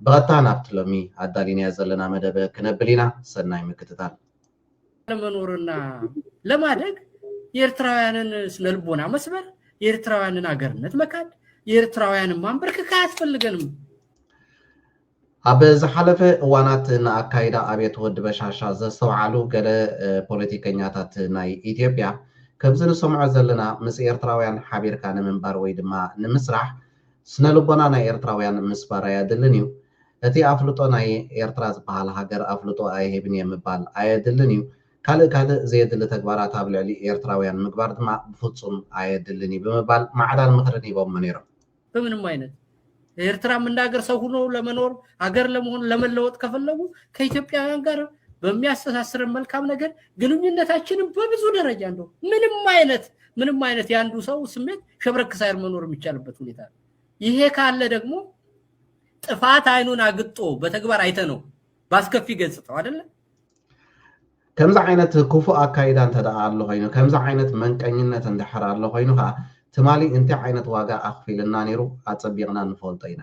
ብቐጥታ ናብቲ ሎሚ ኣዳሊናዮ ዘለና መደብ ክነብል ኢና። ሰናይ ምክትታል። ለመኖርና ለማደግ የኤርትራውያንን ስነልቦና መስበር፣ የኤርትራውያንን ኣገርነት መካድ፣ የኤርትራውያንን ማንበርክክ ኣያስፈልገንም። ኣብ ዝሓለፈ እዋናት ንኣካይዳ ኣብየት ወዲ በሻሻ ዘስተውዓሉ ገለ ፖለቲከኛታት ናይ ኢትዮጵያ፣ ከምዚ ንሰምዖ ዘለና ምስ ኤርትራውያን ሓቢርካ ንምንባር ወይ ድማ ንምስራሕ ስነ ልቦና ናይ ኤርትራውያን ምስባር ኣያድልን እዩ። እቲ ኣፍልጦ ናይ ኤርትራ ዝበሃል ሃገር ኣፍልጦ ኣይህብን እየ ምባል ኣየድልን እዩ። ካልእ ካልእ ዘየድሊ ተግባራት ኣብ ልዕሊ ኤርትራውያን ምግባር ድማ ብፍጹም ኣየድልን እዩ ብምባል ማዕዳን ምኽርን ሂቦሞ ነይሮም። በምንም ዓይነት ኤርትራም እንደ ሀገር ሰው ሆኖ ለመኖር ሀገር ለመሆን ለመለወጥ ከፈለጉ ከኢትዮጵያውያን ጋር በሚያስተሳስረን መልካም ነገር ግንኙነታችንን በብዙ ደረጃ እንደው ምንም አይነት ምንም አይነት የአንዱ ሰው ስሜት ሸብረክ ሳይል መኖር የሚቻልበት ሁኔታ ነው። ይሄ ካለ ደግሞ ጥፋት አይኑን አግጦ በተግባር አይተ ነው በአስከፊ ገጽታው አይደለ ከምዚ ዓይነት ክፉእ ኣካይዳ እንተ ደኣ ኣሎ ኮይኑ ከምዚ ዓይነት መንቀኝነት እንድሕር ኣሎ ኮይኑ ከዓ ትማሊ እንታይ ዓይነት ዋጋ ኣኽፊልና ነይሩ ኣፀቢቕና ንፈልጦ ኢና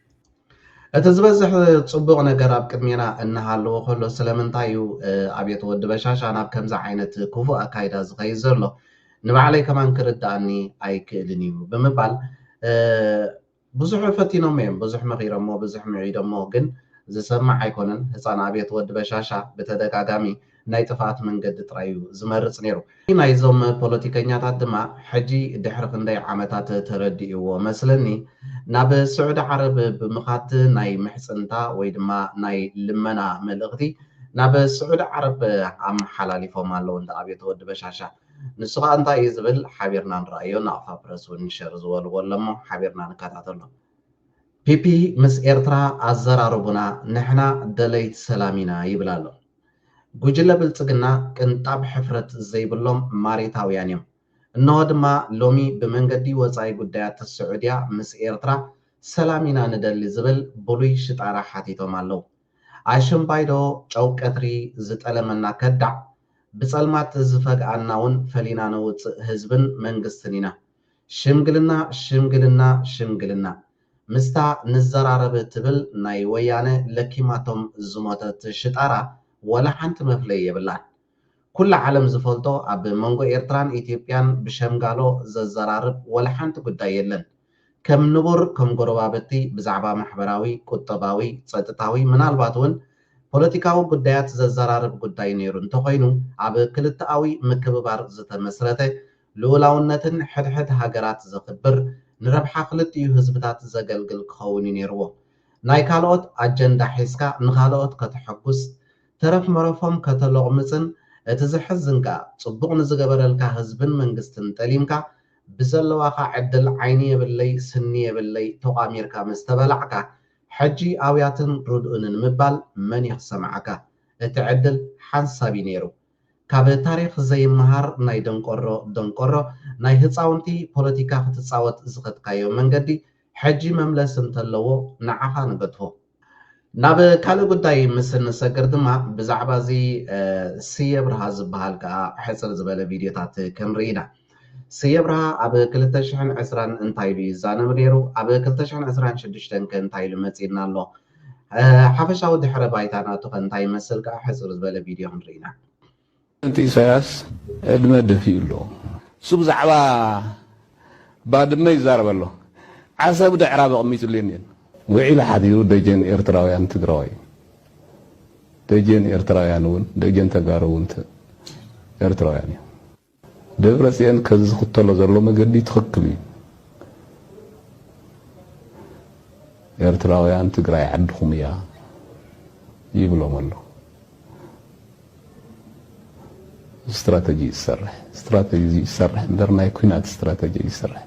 እቲ ዝበዝሕ ጽቡቕ ነገር ኣብ ቅድሜና እናሃለዎ ከሎ ስለምንታይ እዩ ኣብየት ወዲ በሻሻ ናብ ከምዚ ዓይነት ክፉእ ኣካይዳ ዝኸይድ ዘሎ ንባዕለይ ከማን ክርድኣኒ ኣይክእልን እዩ ብምባል ብዙሕ ፈቲኖሞ እዮም ብዙሕ መኺሮሞ ብዙሕ ምዒዶሞ ግን ዝሰማዕ ኣይኮነን ህፃን ኣብየት ወዲ በሻሻ ብተደጋጋሚ ናይ ጥፍኣት መንገዲ ጥራይ እዩ ዝመርጽ ነይሩ። ናይዞም ፖለቲከኛታት ድማ ሕጂ ድሕሪ ክንደይ ዓመታት ተረዲእዎ መስለኒ ናብ ስዑዲ ዓረብ ብምኻድ ናይ ምሕጽንታ ወይ ድማ ናይ ልመና መልእኽቲ ናብ ስዑዲ ዓረብ ኣመሓላሊፎም ኣለዉ እንዳ ኣብየት ወዲ በሻሻ ንሱ ከኣ እንታይ እዩ ዝብል ሓቢርና ንርኣዮ ናቕፋ ፕረስ ውን ሸር ዝበልዎ ኣሎ እሞ ሓቢርና ንከታተሎ ፒፒ ምስ ኤርትራ ኣዘራርቡና ንሕና ደለይት ሰላም ኢና ይብል ኣሎ። ጉጅለ ብልጽግና ቅንጣብ ሕፍረት ዘይብሎም ማሪታውያን እዮም። እነሆ ድማ ሎሚ ብመንገዲ ወጻኢ ጉዳያት ስዑድያ ምስ ኤርትራ ሰላም ኢና ንደሊ ዝብል ብሉይ ሽጣራ ሓቲቶም ኣለው። ኣሽምባይዶ ጨው ቀትሪ ዝጠለመና ከዳዕ ብጸልማት ዝፈግኣናውን ፈሊና ነውጽእ ህዝብን መንግስትን ኢና። ሽምግልና ሽምግልና ሽምግልና! ምስታ ንዘራረብ ትብል ናይ ወያነ ለኪማቶም ዝሞተት ሽጣራ ወላ ሓንቲ መፍለዪ የብላን። ኩላ ዓለም ዝፈልጦ ኣብ መንጎ ኤርትራን ኢትዮጵያን ብሸምጋሎ ዘዘራርብ ወላ ሓንቲ ጉዳይ የለን። ከም ንቡር ከም ጎረባብቲ ብዛዕባ ማሕበራዊ፣ ቁጠባዊ፣ ጸጥታዊ ምናልባት እውን ፖለቲካዊ ጉዳያት ዘዘራርብ ጉዳይ ነይሩ እንተኾይኑ ኣብ ክልተኣዊ ምክብባር ዝተመስረተ ልኡላውነትን ሕድሕድ ሃገራት ዘኽብር፣ ንረብሓ ክልቲኡ ህዝብታት ዘገልግል ክኸውን እዩ ነይርዎ። ናይ ካልኦት ኣጀንዳ ሒዝካ ንኻልኦት ከተሐጉስ፣ ተረፍ መረፎም ከተሎቕምጽን እቲ ዘሕዝን ከኣ ጽቡቕ ንዝገበረልካ ህዝብን መንግስትን ጠሊምካ ብዘለዋካ ዕድል ዓይኒ የብለይ ስኒ የብለይ ቶቛሚርካ ምስ ተበላዕካ ሕጂ ኣውያትን ርድኡንን ምባል መን እዩ ክሰምዓካ? እቲ ዕድል ሓንሳብ እዩ ነይሩ። ካብ ታሪኽ ዘይመሃር ናይ ደንቆሮ ደንቆሮ ናይ ህጻውንቲ ፖለቲካ ክትጻወት ዝኸድካዮ መንገዲ ሕጂ መምለሲ እንተለዎ ንዓኻ ንገድፎ። ናብ ካልእ ጉዳይ ምስ እንሰግር ድማ ብዛዕባ እዚ ስየ ብርሃ ዝበሃል ከኣ ሕጽር ዝበለ ቪድዮታት ክንርኢ ኢና። ስየ ኣብርሃ ኣብ ክልተ ሽሕን ዕስራን እንታይ ኢሉ ይዛነብ ነይሩ? ኣብ ክልተ ሽሕን ዕስራን ሽዱሽተን ከ እንታይ ኢሉ መጺእና ኣሎ? ሓፈሻዊ ድሕረ ባይታ ናቱ ከ እንታይ ይመስል ከኣ ሕጽር ዝበለ ቪድዮ ክንርኢና። ፕረዚደንት ኢሳያስ ዕድመ ደፊኡ ኣሎ። እሱ ብዛዕባ ባድመ ይዛረብ ኣሎ። ዓሰብ ደዕራብ ኣቕሚጥሉ የኒን። ውዒሉ ሓዲሩ ደጀን ኤርትራውያን ትግራዋይ እዩ። ደጀን ኤርትራውያን እውን ደጀን ተጋሩ እውን ኤርትራውያን እዮም። ደብረጽየን ከዚ ዝኽተሎ ዘሎ መገዲ ትኽክል እዩ ኤርትራውያን ትግራይ ዓድኹም እያ ይብሎም ኣሎ ስትራተጂ ዝሰርሕ ስትራተጂ ዝሰርሕ እምበር ናይ ኩናት ስትራተጂ ዝሰርሕ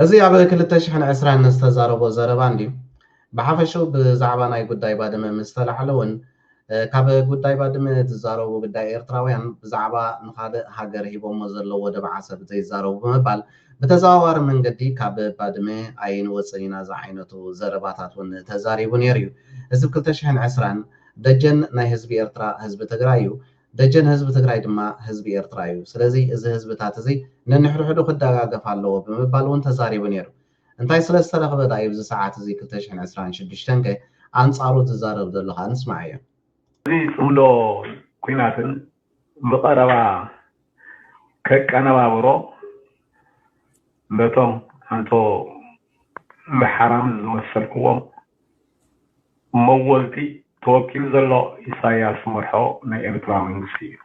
እዚ ኣብ ክልተ ሽሕን ዕስራን ዝተዛረቦ ዘረባ እንድዩ። ብሓፈሽኡ ብዛዕባ ናይ ጉዳይ ባድመ ምስ ተላዕለ እውን ካብ ጉዳይ ባድመ ዝዛረቡ ግዳይ ኤርትራውያን ብዛዕባ ንኻልእ ሃገር ሂቦሞ ዘለዉ ወደብ ዓሰብ ዘይዛረቡ ብምባል ብተዘዋዋሪ መንገዲ ካብ ባድመ ኣይንወጽን ኢና ዝዓይነቱ ዘረባታት እውን ተዛሪቡ ነይሩ እዩ። እዚ ብ ክልተ ሽሕን ዕስራን ደጀን ናይ ህዝቢ ኤርትራ ህዝቢ ትግራይ እዩ። ደጀን ህዝቢ ትግራይ ድማ ህዝቢ ኤርትራ እዩ። ስለዚ እዚ ህዝብታት እዚ ነንሕድሕዱ ክደጋገፍ ኣለዎ ብምባል እውን ተዛሪቡ ነይሩ። እንታይ ስለ ዝተረኽበ ድኣ እዩ ኣብዚ ሰዓት እዚ ክልተ ሽሕን ዕስራን ሽዱሽተን ከ ኣንጻሩ ዝዛረብ ዘሎ ከኣ ንስማዓዮ። እዚ ጽምዶ ኲናትን ብቐረባ ከቀነባብሮ ነቶም ኣንቶ እንዳ ሓራምዝ ዝመሰልክዎም መወልቲ ተወቂሉ ዘሎ ኢሳያስ ዝመርሖ ናይ ኤርትራ መንግስቲ እዩ።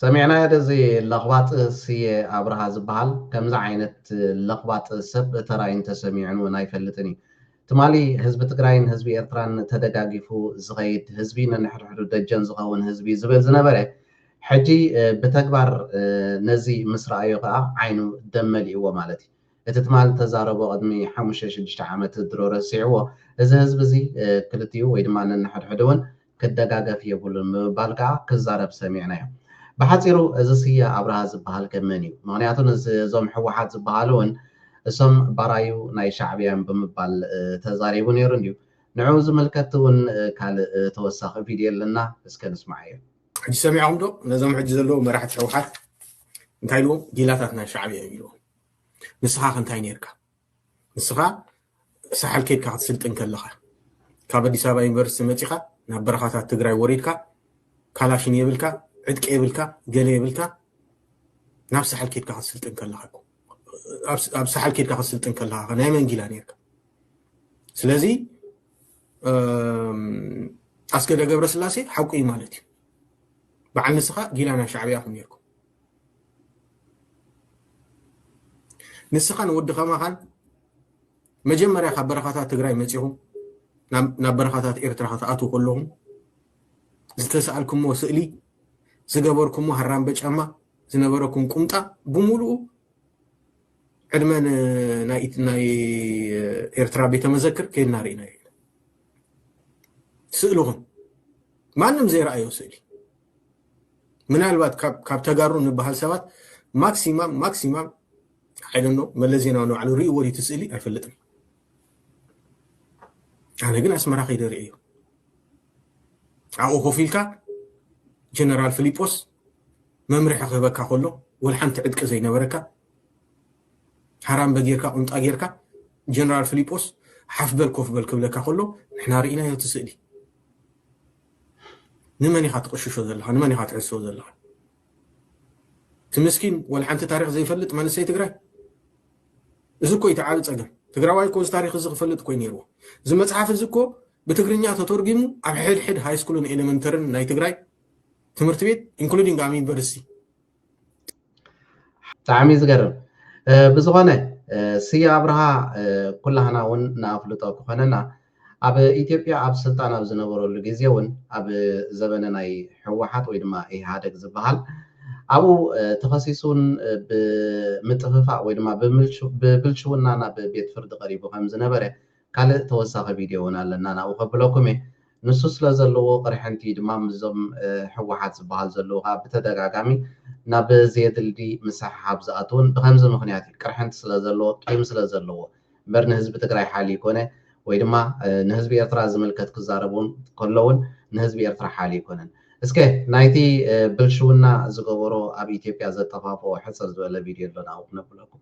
ሰሚዕናዮ ደዚ ለኽባጥ ስየ ኣብርሃ ዝብሃል ከምዚ ዓይነት ለኽባጥ ሰብ ተራእዩን ተሰሚዑን ውን ኣይፈልጥን እዩ ትማሊ ህዝቢ ትግራይን ህዝቢ ኤርትራን ተደጋጊፉ ዝኸይድ ህዝቢ ነንሕድሕዱ ደጀን ዝኸውን ህዝቢ ዝብል ዝነበረ ሕጂ ብተግባር ነዚ ምስ ረኣዮ ከዓ ዓይኑ ደም መሊእዎ ማለት እዩ እቲ ትማል እተዛረቦ ቅድሚ ሓሙሽተ ሽዱሽተ ዓመት ድሮ ረሲዕዎ። እዚ ህዝቢ እዚ ክልቲኡ ወይ ድማ ነንሕድሕዱ እውን ክደጋገፍ የብሉን ብምባል ከኣ ክዛረብ ሰሚዕናዮ። ብሓጺሩ እዚ ስየ ኣብርሃ ዝበሃል ከ መን እዩ? ምኽንያቱ ንስ እዞም ህወሓት ዝበሃሉ እውን እሶም ባራዩ ናይ ሻዕብያ እዮም ብምባል ተዛሪቡ ነይሩ እንድዩ። ንዕኡ ዝምልከት እውን ካልእ ተወሳኺ ቪድዮ ኣለና እስከ ንስምዓዮ። ሕጂ ሰሚዕኹም ዶ ነዞም ሕጂ ዘለዉ መራሕቲ ህወሓት እንታይ ኢልዎም ጊላታት ናይ ሻዕብያ እዮም ኢልዎም። ንስኻ ከ እንታይ ነርካ ንስኻ ሳሕል ከድካ ክትስልጥን ከለኻ ካብ ኣዲስ ኣበባ ዩኒቨርሲቲ መፂኻ ናብ በረኻታት ትግራይ ወሪድካ ካላሽን የብልካ ዕጥቂ የብልካ ገለ የብልካ ናብ ሳሕል ከድካ ክትስልጥን ከለኻ ኣብ ሳሕል ከድካ ክትስልጥን ከለኻ ናይ መንጊላ ነርካ ስለዚ ኣስገደ ገብረስላሴ ሓቁ እዩ ማለት እዩ በዓል ንስኻ ጊላ ናይ ሻዕብያ ኹም ነርኩም ንስኻን ወዲ ከማኻን መጀመርያ ካብ በረኻታት ትግራይ መፂኹም ናብ በረኻታት ኤርትራ ክትኣትዉ ከለኹም ዝተሰኣልኩሞ ስእሊ ዝገበርኩሞ ሃራምበ ጫማ ዝነበረኩም ቁምጣ ብምሉኡ ዕድመ ናይ ኤርትራ ቤተ መዘክር ከይድና ርኢና እዩ ስእልኹም ማንም ዘይረኣዮ ስእሊ ምናልባት ካብ ተጋሩ ንበሃል ሰባት ማክሲማም ማክሲማም ኣይደኖ መለስ ዜናዊ ንባዕሉ ርእይዎ ድዩ እቲ ስእሊ ኣይፈልጥን። ኣነ ግን ኣስመራ ከይደ ርእዮ ኣብኡ ኮፍ ኢልካ ጀነራል ፊሊጶስ መምርሒ ክህበካ ከሎ ወል ሓንቲ ዕጥቂ ዘይነበረካ ሃራምበ ጌርካ ቁምጣ ጌርካ ጀነራል ፊሊጶስ ሓፍ በል ኮፍ በል ክብለካ ከሎ ንሕና ርኢናዮ እቲ ስእሊ ንመን ኢኻ ትቕሽሾ ዘለኻ ንመን ኢኻ ትሕስዎ ዘለኻ እቲ ምስኪን ወልሓንቲ ታሪኽ ዘይፈልጥ መንእሰይ ትግራይ እዚ እኮ እቲ ዓቢ ጸገም ትግራዋይ እኮ እዚ ታሪኽ እዚ ክፈልጥ እኮ ነይርዎ እዚ መጽሓፍ እዚ እኮ ብትግርኛ ተተርጊሙ ኣብ ሕድሕድ ሃይስኩልን ኤሌመንተርን ናይ ትግራይ ትምህርቲ ቤት ኢንክሉዲንግ ኣብ ዩኒቨርሲቲ ብጣዕሚ ዝገርም ብዝኾነ ስየ ኣብርሃ ኩላህና እውን ንኣፍልጦ ክኾነና ኣብ ኢትዮጵያ ኣብ ስልጣን ኣብ ዝነበረሉ ግዜ እውን ኣብ ዘበነ ናይ ህወሓት ወይ ድማ ኢህኣደግ ዝበሃል ኣብኡ ተኸሲሱን ብምጥፍፋእ ወይ ድማ ብብልሽውና ናብ ቤት ፍርዲ ቀሪቡ ከም ዝነበረ ካልእ ተወሳኺ ቪድዮ እውን ኣለና ናብኡ ከብለኩም እየ። ንሱ ስለ ዘለዎ ቅርሕንቲ ድማ ምስዞም ህወሓት ዝበሃሉ ዘለዉ ከኣ ብተደጋጋሚ ናብ ዘየድልዲ ምስሕሓብ ዝኣትዉን ብኸምዚ ምኽንያት እዩ። ቅርሕንቲ ስለ ዘለዎ ቂም ስለ ዘለዎ እምበር ንህዝቢ ትግራይ ሓልዩ ኣይኮነ ወይ ድማ ንህዝቢ ኤርትራ ዝምልከት ክዛረቡ እውን ከሎ እውን ንህዝቢ ኤርትራ ሓልዩ ኣይኮነን። እስከ ናይቲ ብልሽውና ዝገበሮ ኣብ ኢትዮጵያ ዘጠፋፍኦ ሕጽር ዝበለ ቪድዮ ኣሎ ናብኡ ክነብለኩም።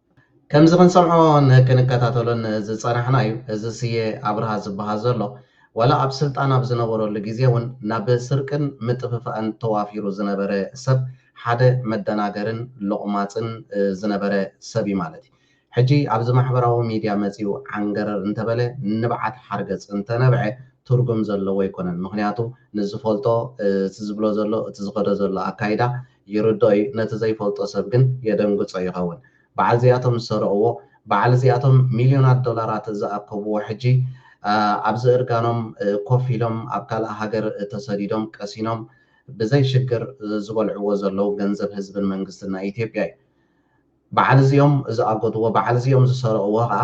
ከምዚ ክንሰምዖን ክንከታተሎን ዝጸናሕና እዩ። እዚ ስየ ኣብርሃ ዝበሃል ዘሎ ዋላ ኣብ ስልጣን ኣብ ዝነበረሉ ግዜ ውን ናብ ስርቅን ምጥፍፋእን ተዋፊሩ ዝነበረ ሰብ ሓደ መደናገርን ሎቕማጽን ዝነበረ ሰብ እዩ ማለት እዩ። ሕጂ ኣብዚ ማሕበራዊ ሚድያ መጺኡ ዓንገረር እንተበለ ንብዓት ሓርገጽ እንተነብዐ ትርጉም ዘለዎ ኣይኮነን። ምኽንያቱ ንዝፈልጦ እቲ ዝብሎ ዘሎ እቲ ዝኸዶ ዘሎ ኣካይዳ ይርድኦ እዩ ነቲ ዘይፈልጦ ሰብ ግን የደንግጾ ይኸውን በዓል እዚኣቶም ዝሰረቕዎ በዓል እዚኣቶም ሚልዮናት ዶላራት ዝኣከብዎ ሕጂ ኣብዚ እርጋኖም ኮፍ ኢሎም ኣብ ካልእ ሃገር ተሰዲዶም ቀሲኖም ብዘይ ሽግር ዝበልዕዎ ዘለዉ ገንዘብ ህዝብን መንግስትን ናይ ኢትዮጵያ እዩ በዓል እዚኦም ዝኣጎድዎ በዓል እዚኦም ዝሰረቅዎ ከኣ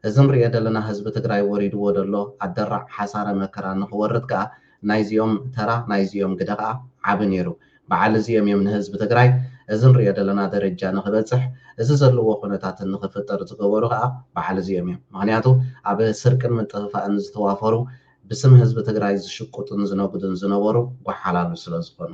እዚ ንርእዮ ደለና ህዝቢ ትግራይ ወሪድዎ ደሎ ኣደራዕ ሓሳረ መከራ ንክወርድ ከኣ ናይዚኦም ተራ ናይዚኦም ግደ ከኣ ዓቢ ነይሩ በዓል እዚኦም እዮም ንህዝቢ ትግራይ እዚ ንርእዮ ደለና ደረጃ ንክበጽሕ እዚ ዘለዎ ኩነታት ንክፍጠር ዝገበሩ ከኣ በዓል እዚኦም እዮም ምክንያቱ ኣብ ስርቅን ምጥፍፋእን ዝተዋፈሩ ብስም ህዝቢ ትግራይ ዝሽቁጡን ዝነጉዱን ዝነበሩ ጎሓላሉ ስለዝኮኑ።